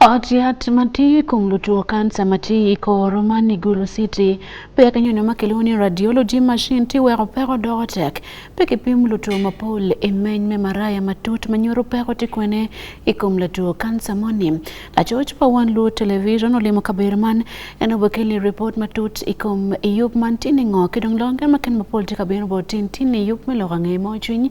Ot yath matiyi kuom lutuo kansa matiyi koro man Igulu City. Pia kanyono makelo ni radiology machine tiwero peko dogo tek. Pia kipim lutuo mapol imeny me maraya matut manyoro peko tikwene ikum lutuo kansa moni. Lachoch pa wan luo television olimo kaber man en obekeli report matut ikum iyup man tini ng'o kidong longe maken mapol tikaber botin tini yup miloka ng'e mochwiny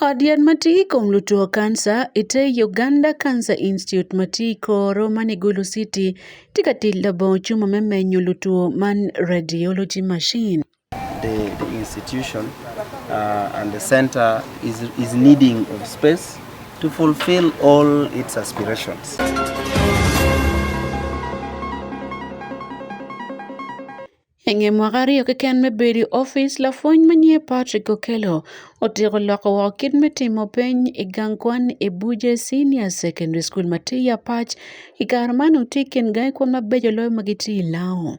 Od yath matiyi kuom lutuo kansa ite Uganda Cancer Institute matiyi koro mani Gulu City tika tilda bo chuma memenyo lutuo man radiology machine. The, the institution uh, and the center is, is needing of space to fulfill all its aspirations. I nge mwaka aryo keken me bedo i opic, lapwony ma nyinge Patrick Okello otyeko loko woko kit me timo peny i gang kwan i Buje Senior Secondary School ma tye i Apac. I kare man otye i kin gangi kwan mabeco loyo ma gitye i Lao.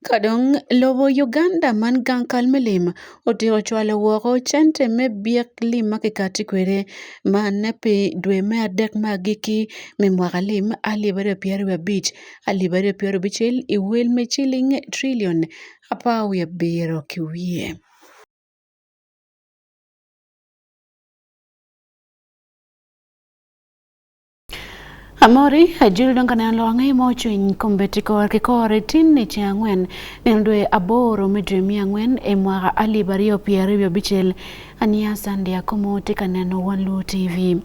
Kadong lobo Uganda man gang kal me lim otiko cwalo woko cente me byek lim ma kikati kwede man pi dwe me adek ma agikki me mwaka lim alip aryo pyero wiye abic alip aryo pyero abicel i wel me ciling trilion apar wiye abiro ki wiye. Amori ajiri donga ne alo ang'e mo chuny kombeti kor ki kor e tin ni che ang'wen ne ndwe aboro me dwe mi ang'wen e mwaka alib ariyo piero ariyo abichel ania sandi akomo ti ka neno wan lu tv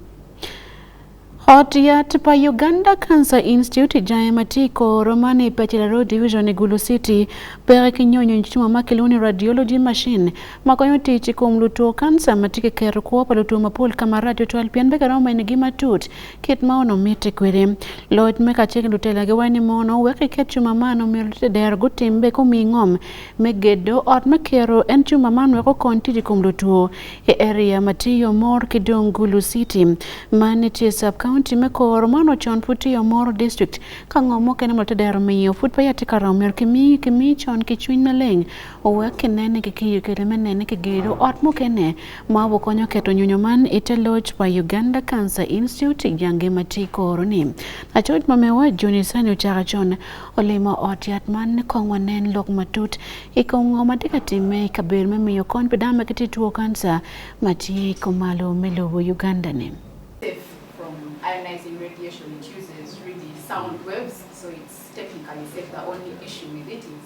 Ot yat pa Uganda Cancer Institute jaye matiko romani Pachela Road Division Gulu City pere kinyonyo chuma makiluni radiology machine makonyo tich kuom luto kansa matike kero kuo pa luto mapol kama radio twal pien be karo main gima tut kit ma ono mite kwere lod me kache kendo tela ge wani mono weke ke chuma mano mi lute der gutim be ko mingom me gedo ot me kero en chuma mano ko kon tiji kuom luto e area matiyo mor kidong gulu city mane tie sub county me kor mano chon puti yo mor district ka ngomo kene lute der mi yo fut pa yati karo mer kimi kimi chon kichwin maleng owek nene kiki yukere menene kigero ot mukene ma obokonyo keto nyunyo man ite loch pa Uganda Cancer Institute jange mati koroni achot mamewa Juni sani ochaka chon olimo ot yat man kong wanen lok matut ikongo matika time kabir memiyo kony pidama kiti tuo kansa mati komalo melobo Uganda ne ionizing radiation it uses really sound waves so it's technically safe the only issue with it is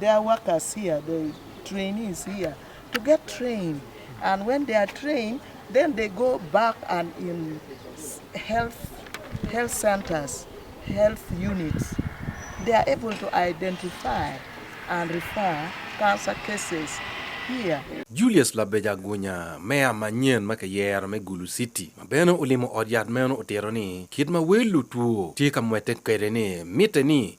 There are workers here, the trainees here, to get trained. And when they are trained, then they go back and in health, health centers, health units, they are able to identify and refer cancer cases here. Julius Labeja Gunya, meya manyien ma kiyero me Gulu City, ma bene olimo od yat meno otero ni kit ma wel lutuo tye ka mwete kwede ni mitte ni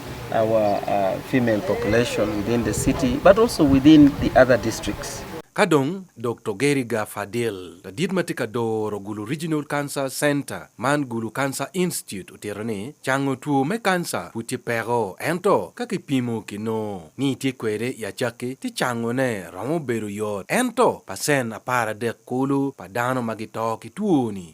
our uh, female population within the city, but also within the other districts. Kadong Dr. Gary Gafadil, the Didma Tikador Gulu Regional Cancer Center, Man Gulu Cancer Institute, Utirani, Chango Tuo Me Cancer, Puti Pero, Ento, Kaki Pimo Kino, Ni Tikwere Yachaki, Tichango Ne, Ramo Beru Yot, Ento, Pasen Apara De Kulu, Padano Magitoki Tuoni,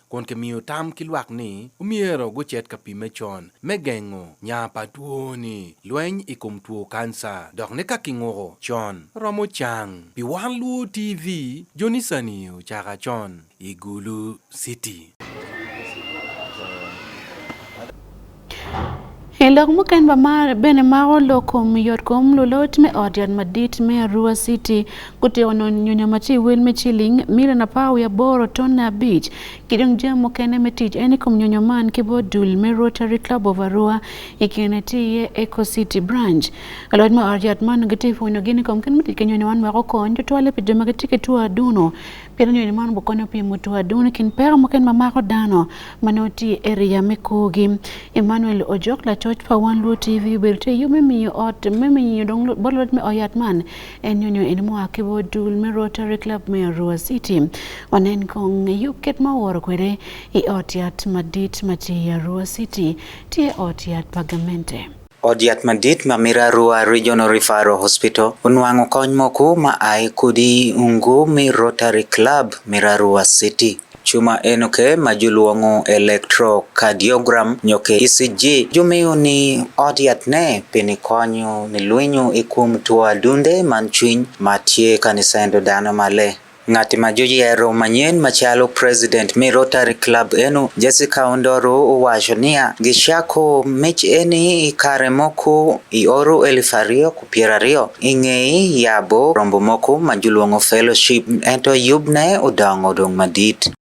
kun kimiyo tam ki lwak ni omyero gucit ka pimme con me gengo nya pa twoni, lweny i kom two kanca, dok ni ka kinguko con romo cang. Pi Wan Luo TV, Jonisani ocaka con i Gulu City. Elok muken ba mar bene ma olo kom yot kom lulot me ot yat madit me Arua City kute ono nyunya machi wel me chiling milion apar wi aboro ton na abich kidong jam mukene me tich en kom nyunya man kibo dul me Rotary Club of Arua ikene tiye Eco City branch lulot me ot yat man giti funyo gini kom ken miti kenyo nyawan mako kon jotwale pe joma giti ketua duno Pi eno nyonyo man bukonyo pi mutu adun kin pera muken mamako dano mane oti e riya me kogi. Emmanuel Ojok la choch pa wan luo TV berite yu me miyo ot me miyo dong bot lot me oyat man en nyonyo eno mo akibo dul me Rotary Club me Arua City. Wanen kong yu ket ma woro kwere i ot yat madit mati Arua City ti ot yat pagamente. Od yath madit ma Mirarua Regional Referral Hospital onwang'o kony moko ma ae kodi Ungumi Rotary Club Mirarua City. Chuma enoke ma joluong'o electrocardiogram nyoke ECG jomeyo ni od yath ne pini konyo ni lwenyo e kuom tuo adunde man chwiny ma tie kanisaendo dano male. Ng'at ma joyiero manyien machalo president me Rotary Club eno, Jessica Ondoro owacho niya, gichako mich eni kare moko i oru eluf ariyo ku pyero ariyo i ngeye yabo rombo moko ma julwongo fellowship ento yubne odongo dong madit.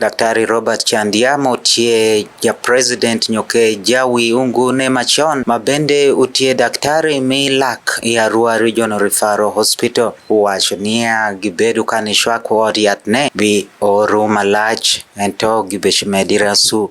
Daktari Robert Chandia Motie ja President Nyoke Jawi Ungune machon ma bende otie daktari mi lak e Arua Regional Referral Hospital wacho niya gibedo ka ni shwako od yath ne bi oru malach ento gibech medi rasu.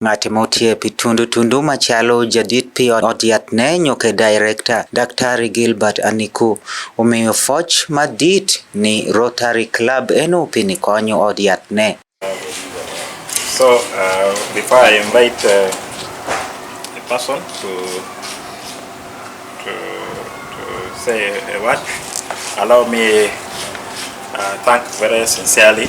Ng'at motiep tundu tundu machalo jadit pi od yath ne nyuke Director, Daktari Gilbert Aniku, omiyo foch madit ni Rotary Club eno pi ni konyo od yath ne. So uh, before I invite uh, a person to, to, to say a word, allow me uh, thank very sincerely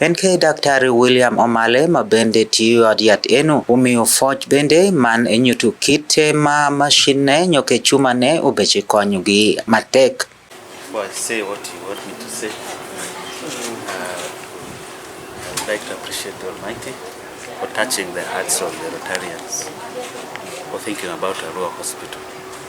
En ke Daktari William Omale ma bende tiyo ad yat enu, umiyo foch bende man enyutu kite ma mashin ne nyoke chuma ne obeche konyo gi matek. Before I say what you want me to say, uh, I'd like to appreciate the Almighty for touching the hearts of the Rotarians for thinking about Arua Hospital.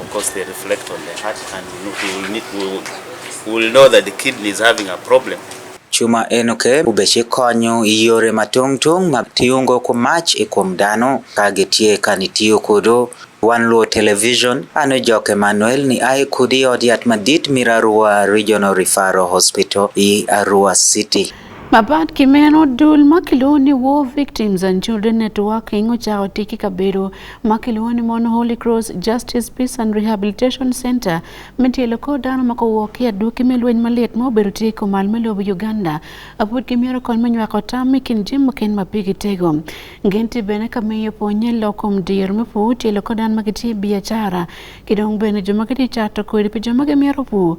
Of course they reflect on the heart and we will, need, we will, we will know that the kidney is having a problem. Chuma en oke ubeche konyo yore matung tung mag tiungo kuom mach e kuom dano ka gitie ka nitiyo kodo wan luo television ano jok Emmanuel ni ae kudi od yath madit Mirarua Regional Referral Hospital i Arua City Mapat ki meno dul ma kilwongo ni War Victims and Children Networking ocako tic ki kabedo ma kilwongo ni mono Holy Cross Justice Peace and Rehabilitation Center me tyelo kor dano ma guwok ki adwoki me lweny malit ma obedo tye i kumal me lobo Uganda apud ki myero kony me nywako tam i kin jami mukene ma pigi tego. Gin tye bene ka miyo pwonye lok kom diro me pur tyelo kor dano ma gitye i biacara ki dong bene jo ma gitye cato kodi pi jo ma gimyero pur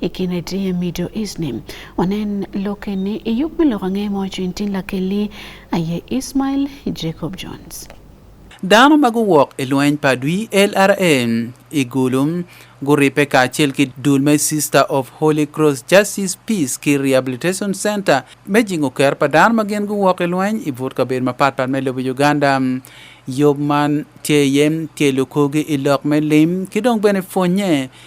ikine ti e middle east ni wanen loke ni iyuk mi loko ang'e mo cwiny tin lakeli aye ismail jacob jones dano ma guwok i lweny pa dwi lrm i gulum guripe kacel ki dul me sister of holy cross justice peace ki rehabilitation center me jingo ker pa dano ma gin guwok i lweny i but kabedo mapatpat me lobo uganda yob man tye yem tye lukogi i lok me lim ki dong bene pwonnye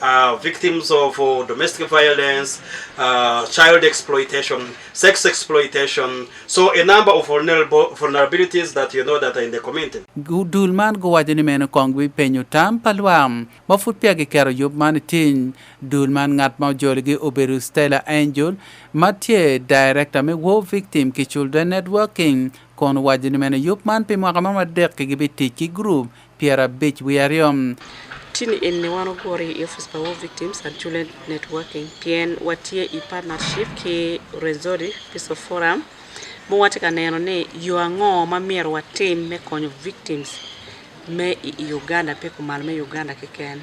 uh, victims of uh, domestic violence, uh, child exploitation, sex exploitation. So a number of vulnerable vulnerabilities that you know that are in the community. Dul man go wajo ni meno kong bi penyo tam palwam. Ma fut pia gi kero yub man tin. Dul man ngat ma joli gi oberu Stella Angel. Ma tie director me War Victim ki Children Networking. Kon wajo ni meno yub man pi mwaka ma madek ki gibi tiki group. pyerabic wiye aryo. Tini eni wan ogure i Office pa War Victims and Children Networking pien watye i partnership ki Rwenzori Peace of Forum ma watye ka neno ni yo ango ma myero watim me konyo victims me i Uganda pe kumal me Uganda keken.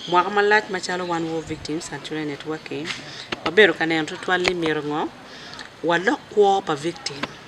Mwaka malac macalo wan War Victims and Children Networking wabedo ka neno tutwal ni myero ngo walok kwo pa victim.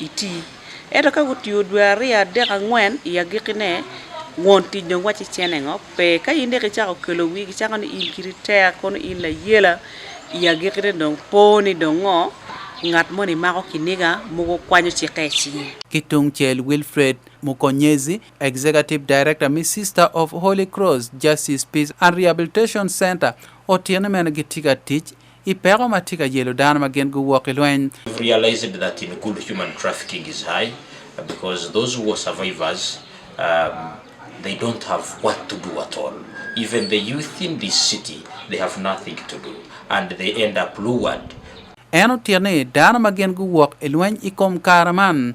iti. Ento ka gutiyo dwe aryo, adek, angwen i agiki ne, won tic dong wacci cene ngo? Pe, ka in dek icako kelo wi gicako ni in kiri tek, kono in layela, i agiki ne dong po ni dong ngo? Ngat moni mako kiniga mogo kwanyo cikke i cinge. Ki tung cel Wilfred Mukonyezi, Executive Director mi Sister of Holy Cross Justice Peace and Rehabilitation Center, otine mene gitye ka tic i peko ma tye ka yelo dano ma gin guwok i lweny. Because those who are survivors, um, they don't have what to do at all. Even the youth in this city, they have nothing to do and they end up lured. En otir ni dano ma gin guwok i lweny i kom kare man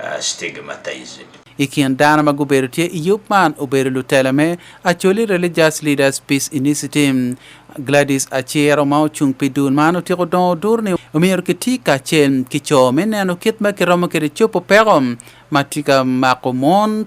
uh, stigmatized. I kin dano ma gubedo tye i yub man obedo lutela me Acholi Religious Leaders Peace Initiative. Gladys Achero ma ocung pi dul man otyeko dongo dur ni omyero kiti kacel ki co me neno kit ma kiromo kede copo peko ma tye ka mako mon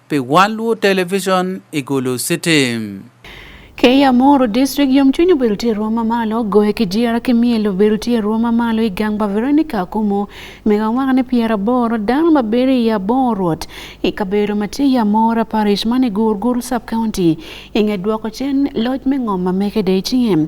pe wan luo television igulu city Kei Amoro District yomchuny obedo tye ruo mamalo goyo ki jira ki myel obedo tye ruo mamalo i gang pa Veronica Akumu mega mwaka ni pyera boro dano ma bedo i abor rwot i kabedo ma tye i Amora Parish man i Gurguru Sub County inge dwoko cen loc me ngom ma mekede i cinge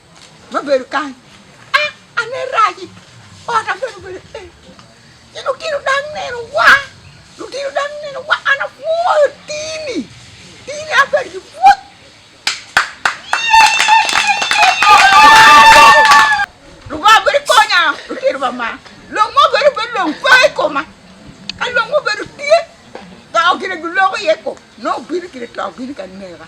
ma bedo kany ah ane raji ota bedo bedo eh ci lutino dang neno wa lutino dang neno wa an apwoyo tini tini abedo ki pwoc lungo abedo konya lutino ba ma long mo bedo bedo long pe i koma ka long mo bedo tye dok gine giloko iye ko no bino kine to bino ka nega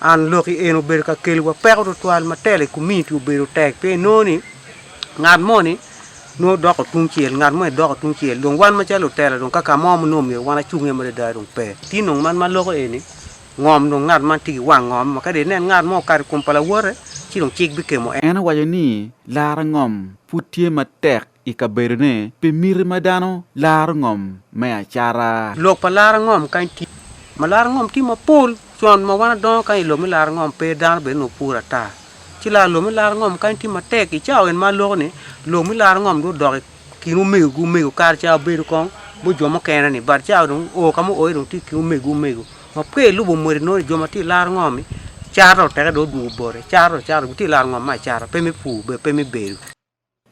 An lok i en obedo ka keliwa peko tutwal ma tele community obedo tek pe noni ngat moni no doko tung cel ngat mo doko tung cel dong wan macalo otela dong kaka mo mo no myero wan acung e mare dai dong pe ti nong man ma loko eni ngom dong ngat man tigi wang ngom ma kadi nen ngat mo kadi kum pala wote ci dong cik bi kemo en owaco ni laro ngom pud tye matek i kabedone pi miti ma dano laro ngom me acara. Lok pa laro ngom kany tye ma laro ngom tye mapol con ma wan adongo kany i lok me laro ngom pe dano bene onongo pur ata ci laro lok me laro ngom kany tye matek i cawa eni ma aloko ni lok me laro ngom dong odok i kin omego ki omego kare ca obedo kong bu jo mukene ni but cawa dong o ka muoyo dong tye i kin omego ki omego ma pe ilubo mwedi nongo jo ma tye i laro ngom-mi cara dong oteke dong odwogo bote cara dong cara gitye i laro ngom me acara pe me pur pe me bedo.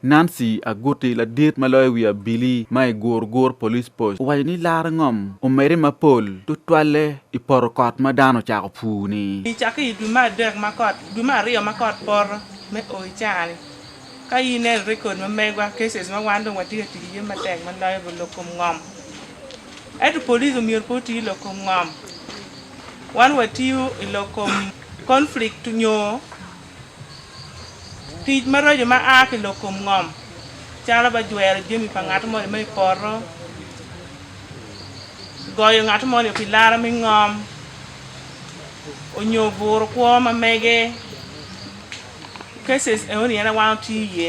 Nancy Aguti ladit ma loyo wi abili ma i Gurgur Police Post owaco ni laro ngom omedde mapol tutwalle i poto kot ma dano ocako pur ni. I cakke i dwe me adek ma kot dwe me aryo ma kot poto me oo i caha ni ka ineno record ma megwa cases ma wan dong watye ka tic iye matek ma loyo bo lok kom ngom ento police omyero pe oti lok kom ngom wan watiyo i lok kom conflict nyo Tic maraco ma a ki lok kom ngom calo ba jwero jami pa ngat moni ma i poto, goyo ngat moni pi lara me ngom, onyo buro kwo ma mege. Cases eoni en awan otye iye.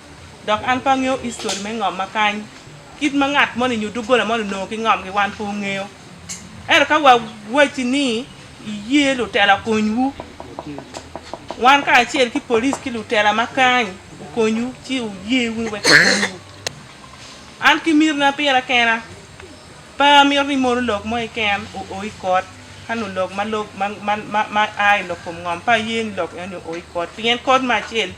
Dok an pe angeyo history me ngom ma kany. Kit ma ngat moni nyo doggola moni onongo ki ngomgi wan pe ongeyo. Ento ka wawacci ni iye lutela okonywu, wan kacel ki police ki lutela ma kany okonywu ci wuye wunu wek okonywu. An ki mirna pira kena pe amito ni mono lok mo keken oo i kot ka nongo lok ma lok ma ma ma ma a i lok kom ngom pe aye ni lok eno ni oo i kot pien kot me acel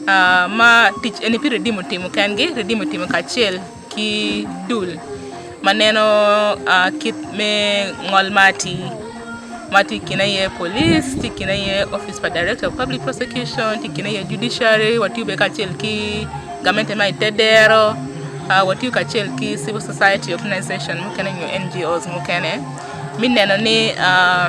Uh, ma tic eni pi redim otimo kengi redim otimo kacel ki dul ma neno uh, kit me ngol ma ati ma ti kine ye police ti kine ye office pa director of public prosecution ti kine ye judiciary watiyo be kacel ki gamente ma itedero uh, watiyo kacel ki civil society organization mukene nyo ngos mukene mi neno ni uh,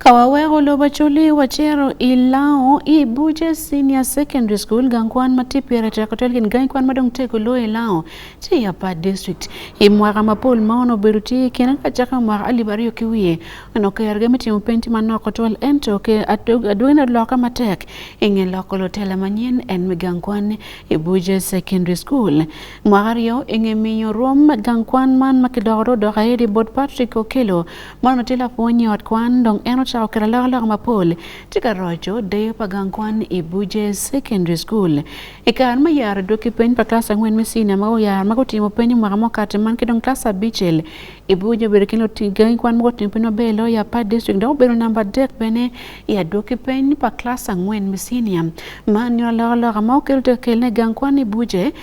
Kawawego lobo chuli wacero i lao i buce senior secondary school gang kwan ma tye pyera teko tel gin gang kwan ma dong teko lo i lao tye i apa district i mwaka ma pol ma ono obedo tye kine ka caka mwaka alip aryo ki wiye ono kerge me timo penj ma noko twal ento ke adwene oloka matek i nge loko lutela manyen en me gang kwan i buce secondary school Mwaka aryo i nge miyo rwom gang kwan man ma kidoko do dok aye di bot Patrick Okello man ma tye lapwony i ot kwan dong en ocako kelo alokaloka mapol tye ka roco deyo pa gang kwan i Buje Secondary School. I kare ma yaro dweki peny pa klas angwen me senior ma oyaro ma gutimo peny i mwaka mukati man ki dong klas abicel i Buje obedo kine oting gangi kwan ma gutimo peny maber loyo i Apar District dok obedo namba adek bene i adwoki peny pa klas angwen me senior man nyuto alokaloka ma Okello tye ka kelone gang kwan i Buje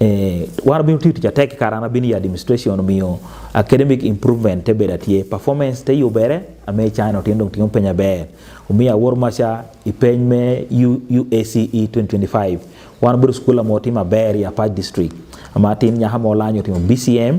eh, war biro tiyo tich atek karana bini ya administration miyo academic improvement te beda tie performance te yubere ame chano tiendo tingo penya ber umiya wor macha ipeny me UACE 2025 wan biro skula mo tima ber ya pa district ama tin nyaha mo lanyo timo BCM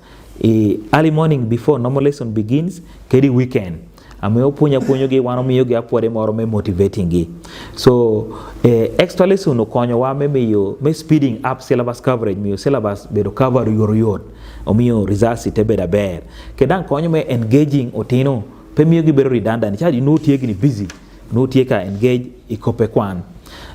E, early morning before normal lesson begins kedi weekend amiyo puonjo apuonjogi wan omiyogi apuode moro me motivating gi so eh, extra lesson okonyowa me miyo me speeding up syllabus coverage miyo syllabus bedo cover yor yot omiyo results te bedo aber kedang konyo me engaging otino pe miyo gibedo redundant chadi notiegni busy notieka engage ikope kwan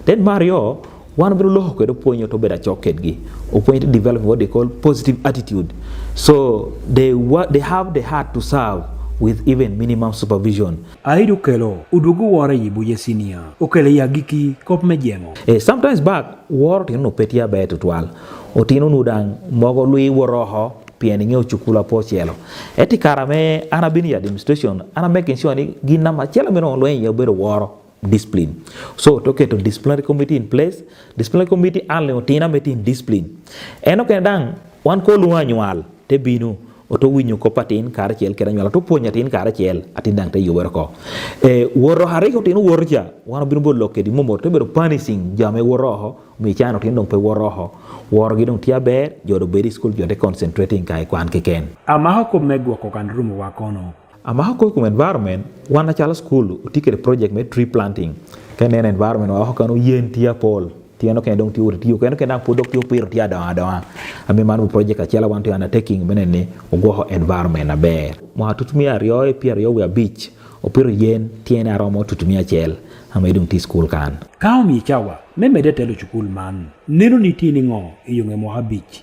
then mario wan biro loho kendo puonjo to bedo achok kedgi opuonj to develop what they call positive attitude so they, they have the heart to serve with even minimum supervision. Aidu kelo udugu wara yibu ye senior. Ukele ya giki kop me jengo. Eh, sometimes back waro tino no petia bae tutual. Otino nudang mogo lui waroho pien ing'eyo chukula po chielo. Eti kara me ana bini administration ana making sure ni gin nama chielo mino lwenye obedo waro. discipline. So to keto disciplinary committee in place, disciplinary committee ale otina metin discipline. Eno kene dang wan ko luwa nyual te binu oto winyo ko patin kare chel kera nyual to puonyo atin kare chel atin dang te yuwer ko. E woro hare ko tin woro cha wan binu bolo kedi momo te bero punishing jame woro ho mi chano tin dong pe woro ho. Woro gi dong tia ber jodo beri school jode concentrating kai kwan ke ken. Amaho ko megwa ko kan rumo wakono. a maxa koy kum environment wana chala school utikere project me tree planting ka nena environment wa hoka no yen tia pol tia no kendo ti uri tiyo kendo kendo podok tiyo piro tia dawa dawa ami manu project achiel wanto yana taking menen ni ugoho environment aber mwa tutumia riyo e pia riyo ya beach opiro yen tiene aromo tutumia achiel ama idong ti school kan ka omi chawa memede telo chukul man neno ni tini ngo e yonge mwa beach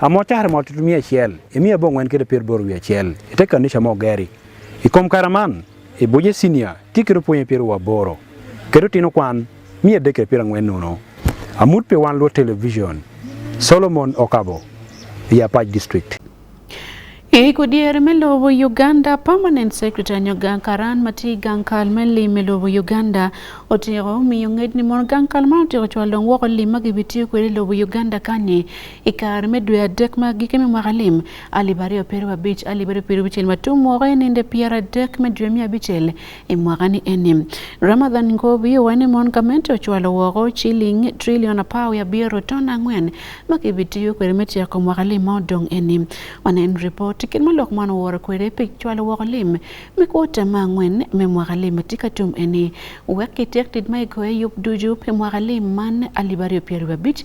Amo tare mo tutu mia chiel, imi abo ngwen kede pier bor wia chiel, ite kanisha mo geri. Ikom karaman, ibuje sinia, tikiro puonye pier wa boro. Kedo tino kwan, mia deke pier ngwen nuno. Amut pe wan lo television, Solomon Okabo, Yapaj District. Iko dier melobo Uganda Permanent Secretary Nyoga Karan mati gankal me lim melobo Uganda otiko miyo ngej ni mon gankal man otiko cwal dong woko lim ma gibitiyo kwede lobo Uganda kani i kare me dwe adek ma gike me mwaka lim alip aryo piro abich alip aryo piro abicel ma tum woko i ninde pyera adek me dwe miya abicel imwaga ni eni Ramadhan Ngobi owene mon gamente ochwalo woko chiling trilion apar ya abiro ton ang'wen ma kibitiyo kwede me tyeko mwaka lim ma odong eni wanen ripot kit ma lok man oworo kwede pi chwalo woko lim me kuota ma ang'wen me mwaka lim ma tye ka tum eni wek kityek tit ma igoye yub ducu pi mwaka lim man alip aryo pyero wiye abic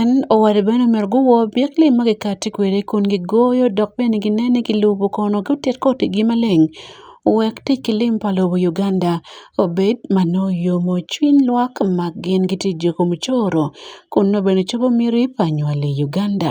En oware bene omer guwo byek li ma gikati kwede kun gigoyo dok bene ginene ki lubo kono gutit kotigi maleng wek tic ki lim pa lobo Uganda obed ma nongo yomo cwiny lwak ma gin giti joko mucoro kun nongo bene cobo miti pa nywali Uganda.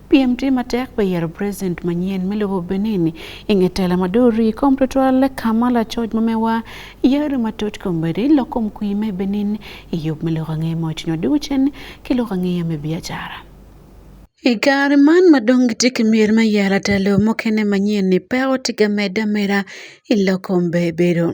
Piem tye matek pi yero president manyen me lobo Benin i nge tela ma duri kom tutwal ka ma lacoc ma mewa yero matut kombedi lok kom kwi me Benin i yub me loko angeye ma otingo dugo cen ki loko angeye me biacara. I kare man ma dong gitye ki myero me yero atalo mukene manyen-ni, peko tye ka medde ameda i lok kom bebedo.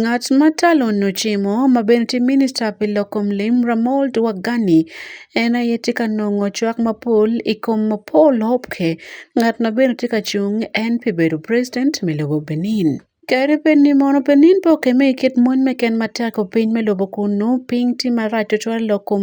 Ngat ma talo no cimo ma bene tye minista pi loko lim Ramold Wagani en aye tye ka nongo cwak mapol i kom Paul Hopke ngat ma bene tye ka cung en pi bedo president me lobo Benin. Kadi bed ni mono Benin pe okemme i kit mony me ken ma teko piny me lobo kunu, piny tye marac tutwal lok kom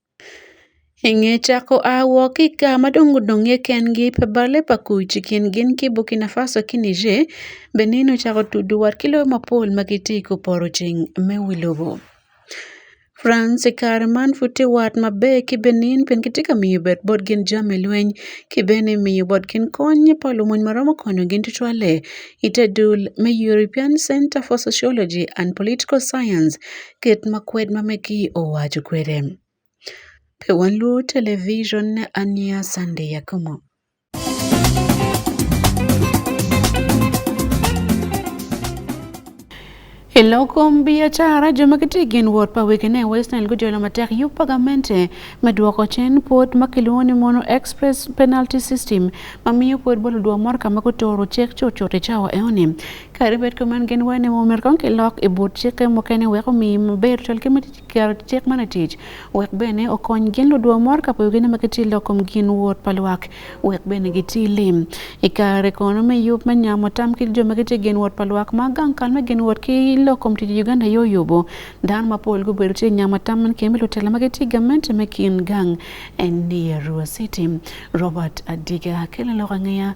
Eng'e chako awo ki ka madongo dongo i ken gi pe bale pa kuc i kin gin ki Burkina Faso ki Niger, Benin ocako tudu wat ki loyo mapol ma gitye i koporo ceng me wi lobo. France i kare man pud tye wat maber ki Benin pien kitye ka miyo bad bot gin jami lweny ki bene miyo bot gin kony pa lumony ma romo konyogi tutwalle i te dul me European Centre for Sociology and Political Science. ket ma kwed ma meki owach kwede. Pe wan lu television ne ania Sunday yakomo. E lokom biacara jo ma gitye gin wot pa wegine West Nile gujolo matek yub pagamente me dwoko cen pod ma kilwongo ni mono express penalty system ma miyo pod bolo dwo mor ka ma gutoro cek cutcut i cawa eoni Kadi bed kuman gin wene mo myero kong kilok i but cikke mukene wek omi maber col ki keto cik man atic wek bene okony gin ludwo mor ka pwogi ma giti lok kom gin wot pa lwak wek bene giti lim i kare kono me yub me nyamo tam ki jo ma giti gin wot pa lwak ma gang kal me gin wot ki lok kom tic Uganda yo yubo dan ma pol gubedo ti nyamo tam man kemi lutela ma giti gamente me kin gang en ni Arua City Robert Adiga kele lok angeya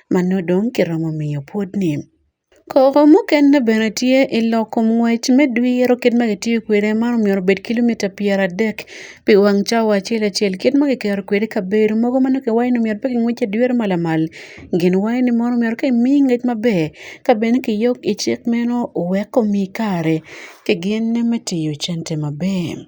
ma nodong' kiromo miyo puodhni. Kowo moketne bene tye i loko ngwec me dwiro kit ma kitiyo kwede ma myero obed kilomita pyeradek pi wang cawa acel acel kit ma kiketo kwede i kabedo mogo ma nongo kiwaco ni myero pe kingwec ki adwiro ma lamal gin waco ni mono myero ka imiyi ngec maber ka bene kiyok i cik meno wek omiyi kare ki gin me tiyo cente maber.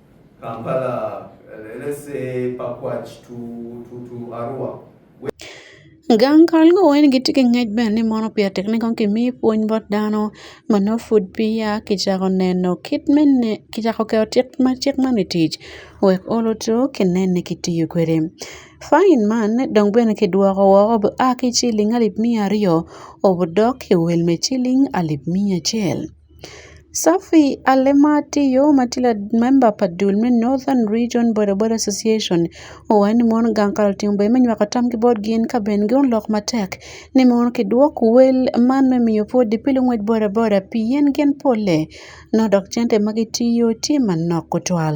Kampala, let's say Pakwach to, to, to Arua. Gang kal go wen gi tike ngej ben ni mono pia tek ni kon kimi puonj bot dano ma no food pia ki chako neno kit men ne ki chako keo tik ma tik ma ni tich wek olo to ki nene ki tiyo kwede fain man ne dong bene ki dwoko wo obo a ki chiling alip mia aryo obo dok ki wel me chiling alip mia chel Safi ale matiyo matila member pa dul me Northern Region Bodaboda Association owaco ni mon gang ka lutim obedo me nywako tam ki botgi in ka ben gin olok matek ni mono kidwok wel man me miyo pwod di pi lungwec bodaboda pien gin pole nongo dok cente ma gitiyo tye manok tutwal.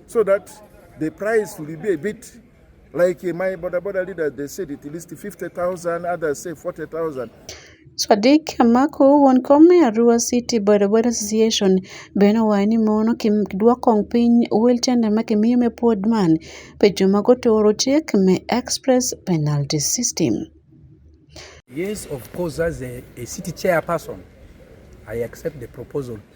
So that the price will be a bit like eh, my border border leader they said it at least 50,000 others say 40,000 Sadiq Amako wuon kom e Arua City Bodaboda Association bene owacho ni mono ki dwoko piny wheelchair ma kimiyo me pod man pe joma gotoro chik me express penalty system. Yes, of course, as a, a city chairperson, I accept the proposal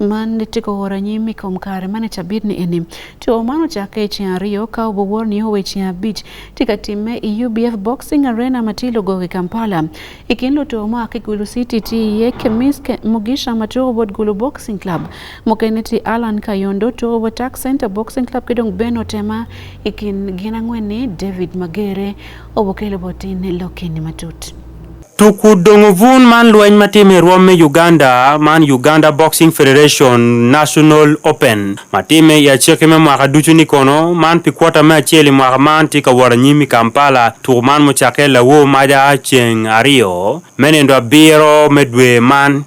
man ne tiko woro nyim ikom kare mane tabir ni eni to mano chake che ariyo ka obo wor ni owe che abich tika time i e UBF Boxing Arena matilo goge Kampala ikin lo to ma ke gulu city ti ye kemis ke mugisha mato obo gulu boxing club mokene ti Alan Kayondo to obo tax center boxing club kidong beno tema ikin gina ngwene David Magere obo kelo botin lokini matut Tuku dongo vun man lweny ma time i rwom me Uganda man Uganda Boxing Federation National Open ma time i aciki me mwaka ducu ni kono man pi kwota me acel i mwaka man tye ka wot anyim i Kampala. Tuku man mucakke lawo maja ceng aryo me nendo abiro me dwe man.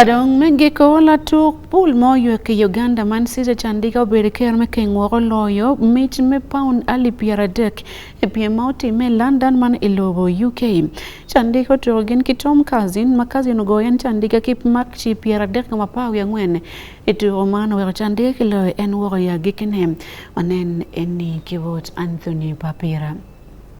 Kadong me giko latuk pul ma oywe ki Uganda man City Chandiga obedo ker me keng woko loyo mic me paun ali pyera dek e piem ma otime e London man i lobo UK. Chandiga otuko gin ki Tom Kazin ma Kazin ogoyo en Chandiga ki mak ci pyera dek ka mapar wi angwen i tuko man oweko Chandiga ki loyo en woko ya gikine. Wanen eni ki wot Anthony Papira.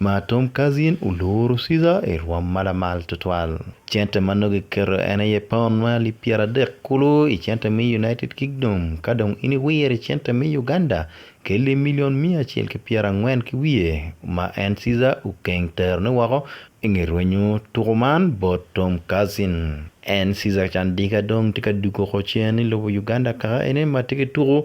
Ma Tom Kazin oloro Caesar i rwom malamal tutwal. Cente ma nongo kiketo en aye paun ma alip pyeradek kulu i cente me United Kingdom, ka dong in iwiro i cente me Uganda, kel i milion miya acel ki pyerangwen ki wiye ma en Caesar okeng terone woko i nge rwenyo tuku man bot Tom Kazin. En Caesar Candika dong tye ka dugo ko cen i lobo Uganda kaka ene ma tye ki tuku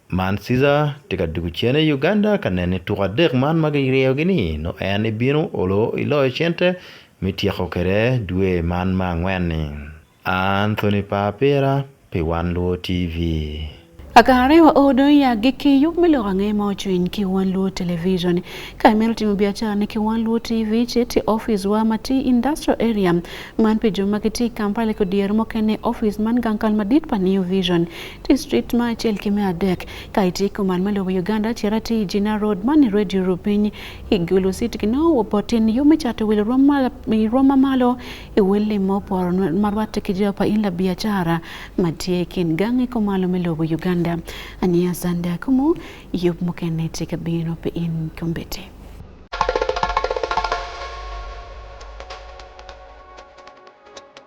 Man Ciza tye ka dwogo cene i Uganda ka neno ni tuko adek man ma giryeyogi ni nongo en ibino olo iloyo cente me tyeko kwede dwe man me angwen-ni. Anthony Papira pi Wan Luo TV. Akare wa o dong ya gi ki yub me loko ange ma ocwiny ki Wan Luo Television. Ka imito timo biacara ni ki Wan Luo TV, ce ti office wa ma ti Industrial Area. Man pi jo ma ki ti Kampala ki dyer mukene office man gang kal madit pa New Vision. district ma achiel kime adek ka itieko man maluwo Uganda Cherati Jina Road mani Radio Rupiny Igulu City kino wopotin yo michato wil roma malo e wele mopor marwate kijopa ila biachara matie kin gangi komalo miluwo Uganda ania sanda kumu yo mukene tika bino pe in kombete